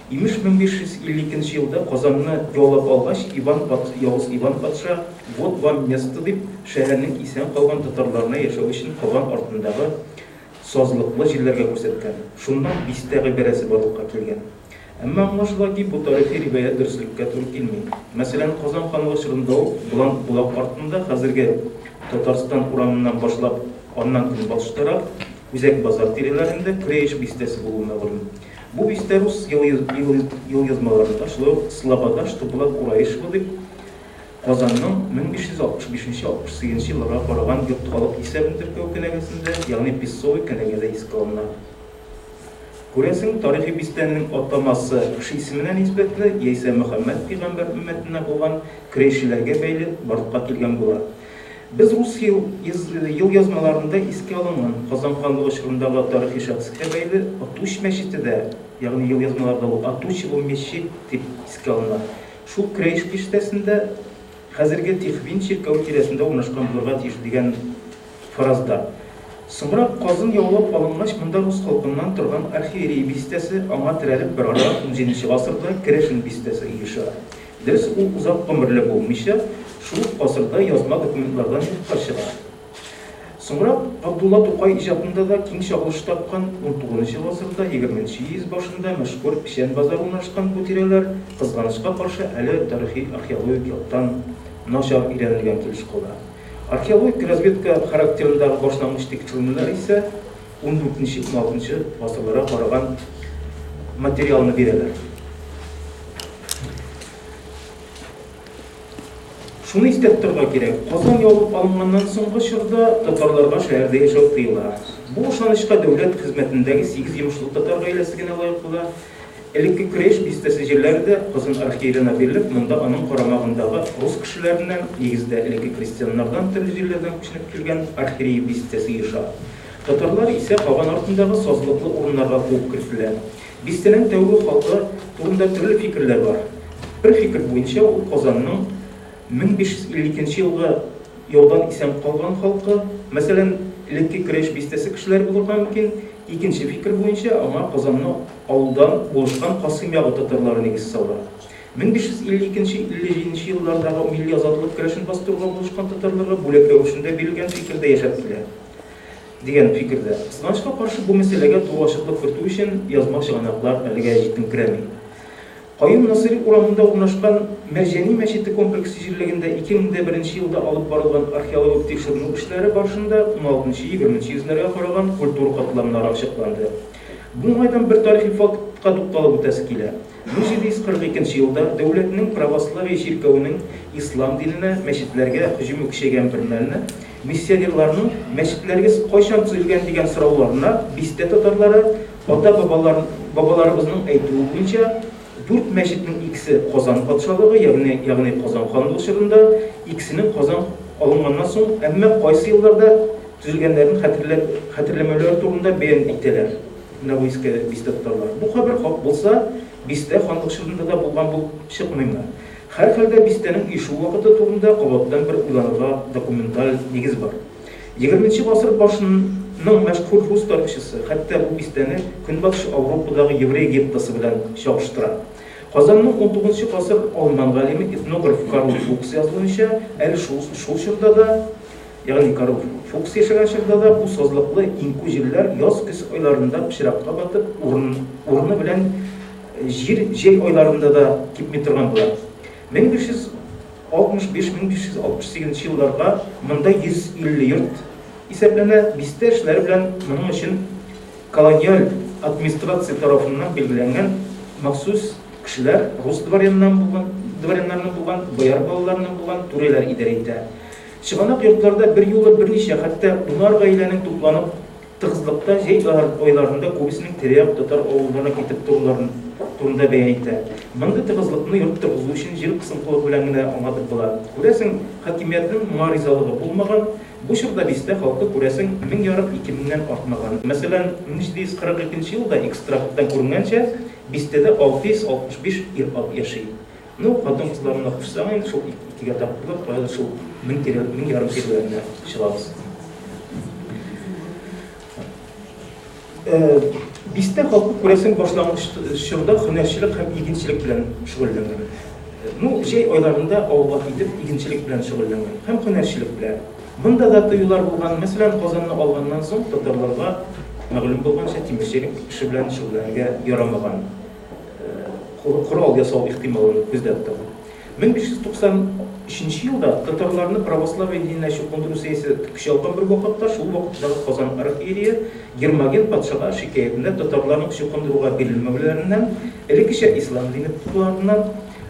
Имеш, 1550 нче елда Казанны яулап алгач, Иван патша, Явыз Иван патша, Вот вам место, дип, шәһәрнең исән калган татарларына яшәү өчен Казан артындагы сазлыклы җирләргә күрсәткән. Шуннан бистә гыйбарәсе барлыкка килгән. Әмма аңлашыла ки, бу тарихи риваять дөреслеккә туры килми. Мәсәлән, Казан ханлыгы чорында ук Болан Болак артында, хәзерге Татарстан урамыннан башлап, аннан көнбатыш тарап, Үзәк базар тирәләрендә Көрәеш бистәсе булуы мәгълүм. Бу бистә рус елъязмаларында, шулай ук Слобода, что была Кураишева дип, Казанның 1565-68 елларга караган йорт халык исәбен теркәү кенәгәсендә, ягъни Песцовый кенәгәдә искә алына. Күрәсең, тарихи бистәнең атамасы кеше исеменә нисбәтле, яисә Мөхәммәд пигамбәр өммәтеннән булган крәйшеләргә бәйле барлыкка килгән була. Без рус елъязмаларында искә алынган Казан ханлыгы чорындагы тарихи шәхескә бәйле Атуч мәчете дә, ягъни елъязмаларда ул Отучево мечеть дип искә алына, шул Крейж биштәсендә, хәзерге Тихвин чиркәве тирәсендә урнашкан булырга тиеш дигән фаразда. Соңрак Казан яулап алынгач, монда рус халкыннан торган архиерей бистәсе, аңа терәлеп берара унҗиденче гасырда Керәшен бистәсе оеша. Дөрес, ул озак гомерле булмыйча, шул ук гасырда язма документлардан юкка чыга. Соңрак Габдулла Тукай иҗатында да киң чагылыш тапкан 19 гасырда, 20 йөз башында мәшһүр Печән базары урнашкан бу тирәләр, кызганычка каршы, әле тарихи-археологик яктан начар өйрәнелгән килеш кала. Археологик разведка характерындагы башлангыч тикшеренүләр исә ундүртенче-уналтынчы гасырларга караган материалны бирәләр. Шуны истә тотарга кирәк, Казан ябып алынганнан соңгы чорда татарларга шәһәрдә яшәү тыела. Бу ышанычка дәүләт хезмәтендәге сигез йомышлы татар гаиләсе генә лаек була. Элекке Көрәш бистәсе җирләре дә Казан архиеленә бирелеп, монда аның карамагындагы рус кешеләреннән, нигездә, элекке крестьяннардан төрле җирләрдән күченеп килгән архиреи бистәсе ешар. Татарлар исә каган артындагы сазлыклы урыннарга куып кертелә. Бистәнең тәүге хаты турында төрле фикерләр бар. Бер фикер буенча, ул Казанның 1552 елгы яудан исән калган халкы, мәсәлән, элекке Керәш бистәсе кешеләре булырга мөмкин. Икенче фикер буенча, аңа Казанны алудан булышкан Касыйм ягы татарлары нигез сала. 1552-57 еллардагы милли азатлык көрәшен бастыруга булышкан татарларга бүләк рәвешендә бирелгән фикер дә яшәп килә. Дигән фикердә. Кызганычка каршы, бу мәсьәләгә тулы ачыклык кертү өчен язма чыганаклар әлегә җитенкерәми. Каюм Насыйри урамында урнашкан Мәрҗани мәчете комплексы җирлегендә 2001 елда алып барылган археологик тикшеренү эшләре барышында уналтынчы-егерменче йөзләргә караган культура катламнары ачыкланды. Бу уңайдан бер тарихи фактка тукталып үтәсе килә. 1742 елда дәүләтнең православие чиркәвенең ислам диненә, мәчетләргә, һөҗүме көчәйгән бермәлне, Миссионерларның мәчетләрегез кайчан төзелгән дигән сорауларына бистә татарлары ата-бабалар бабаларыбызның әйтүе буенча, дүрт мәчетнең икесе Казан патшалыгы, ягъни ягъни Казан ханлыгы чорында, икесенең Казан алынганнан соң, әмма кайсы елларда төзелгәннәрен хәтерләп хәтерләмәүләре турында бәян итәләр менә бу иске бистә татарлары. Бу хәбәр хак булса, бистә ханлык чорында да булган булып чыкмыймы? Һәрхәлдә, бистәнең ишу вакыты турында кабаттан бер уйланырга документаль нигез бар. Егерменче гасыр башының мәшһүр рус тарихчысы хәтта бу бистәне Көнбатыш Ауропадагы еврей геттосы белән чагыштыра. Казанның унтугызынчы гасыр алман галиме, этнограф Карл Фукс язуынча, әле шул шул чорда да, ягъни Карл Фукс яшәгән чорда да бу сазлыклы иңкү җирләр яз-көз айларында пычракка батып, урын урыны белән Җир җәй айларында да кипми торган була. 1565-1568 елларга монда 150 йорт исәпләнә, бистә эшләре белән моның өчен колониаль администрация тарафыннан билгеләнгән махсус кешеләр, рус дворяннан булган, дворяннарның булган, бояр балаларының булган түрәләр идарә итә. Чыганак йортларда берьюлы берничә, хәтта унар гаиләнең тупланып Тыгызлыкта җәй айларында күбесенең тирә-як татар авылларына китеп торуларын турында бәян итә. Мондый тыгызлыкны йорт торгызу өчен җир кысынкылыгы белән генә аңлатып була. Күрәсең, хакимиятнең моңа ризалыгы булмаган. Бу чорда бистә халкы, күрәсең, мең ярым, ике меңнән артмаган. Мәсәлән, 1742 елда экстракттан күренгәнчә, бистәдә 665 ир-ат яши. Ну, хатын-кызларына кушсаң инде, шул икегә тартылып, каядыр шул мең тирә, мең ярым тирәләренә чыгабыз. Э, бистә халкы күрәсең башлангыч чорда һөнәрчелек һәм игенчелек белән шөгыльләнгән. Э, ну, җәй айларында авылга китеп, игенчелек белән шөгыльләнгән һәм һөнәрчелек белән. Монда да тыюлар булган, мәсәлән, Казанны алганнан соң татарларга мәгълүм булганча тимерчелек эше белән шөгыльләнергә ярамаган. корал ясау ихтималын күздә тотып. 1593 елда татарларны православие диненә чукындыру сәясәте көч алган бер вакытта шул вакыттагы Казан архиерее Гермоген патшага шикаятендә татарларның чукындыруга бирелмәүләреннән, элеккечә ислам дине тотуларыннан,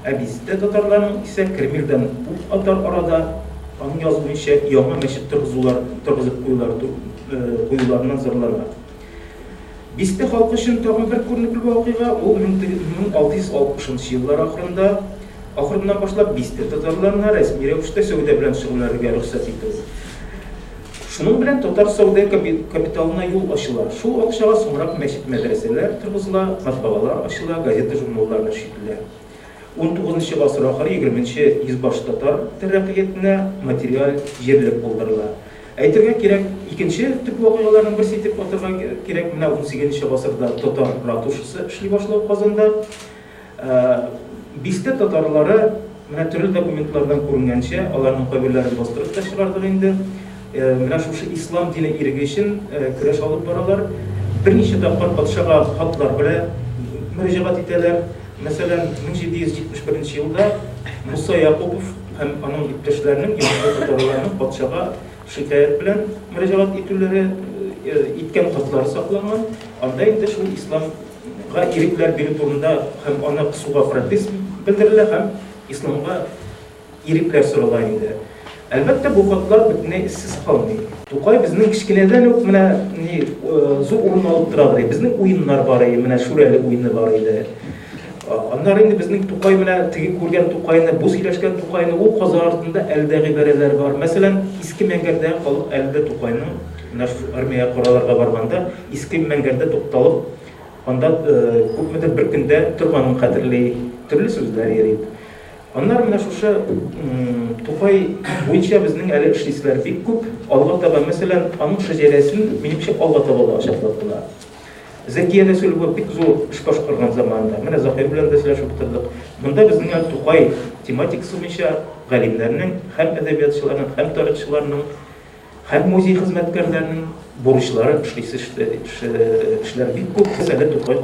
ә бизтә татарларның исә Кремльдән ут атар арада, аның язуынча, яңа мәчет торгызулар торгызып куюлары куюларыннан зарлана. Бистә халкы өчен тагын бер күренекле вакыйга, ул 1660 нчы еллар ахырында ахырыннан башлап бистә татарларына рәсми рәвештә сәүдә белән шөгыльләрергә рөхсәт итү. Шуның белән татар сәүдә капиталына юл ачыла. Шул акчага соңрак мәчет-мәдрәсәләр торгызыла, матбагалар ачыла, газета-журналлар нәшрителә. Унтугызынчы гасыр ахыры-егерменче йөз баш татар тәрәкыятенә материаль җирлек булдырыла. Әйтергә кирәк, икенче төп вакыйгаларның берсе итеп атарга кирәк, менә унсигезенче гасырда татар ратушасы эшли башлау Казанда. Бистә татарлары, менә төрле документлардан күренгәнчә, аларның кайберләрен бастырып та чыгардык инде, менә шушы ислам дине иреге өчен көрәш алып баралар. Берничә тапкыр патшага хатлар белә мөрәҗәгать итәләр. Мәсәлән, 1771 елда Муса Якупов, һәм аның иптәшләренең имәнле татарларның патшага шикаять белән мөрәҗәгать итүләре иткән хатлары сакланган. Анда инде шул исламга ирекләр бирү турында һәм аны кысуга протест белдерелә һәм исламга ирекләр сорала инде. Әлбәттә, бу хатлар бөтенләй эзсез калмый. Тукай безнең кечкенәдән үк менә ни зур урын алып тора бара. Безнең уеннар бар иде, менә Шүрәле уены бар иде. Аннары инде безнең Тукай менә теге күргән Тукайны, бу сөйләшкән Тукайны, ул каза артында әле дә гыйбарәләр бар. Мәсәлән, Иске Мәңгәрдәге халык әле дә Тукайның менә армиягә караларга барганда Иске Мәңгәрдә тукталып, анда күпмедер бер көндә торганын хәтерли, төрле сүзләр йөри. Аннары менә шушы Тукай буенча безнең әле эшлиселәр бик күп. Алга таба, мәсәлән, аның шәҗәрәсен, минемчә, алга таба да ачыклап була. Зәкия Рәсүлова бик зур эш башкарган заманында, менә Заһир белән дә сөйләшеп утырдык, монда безнең әле Тукай тематикасы буенча галимнәрнең һәм әдәбиятчыларның, һәм тарихчыларның, һәм музей хезмәткәрләренең бурычлары эшлисе эшләре бик күп, без әле Тукай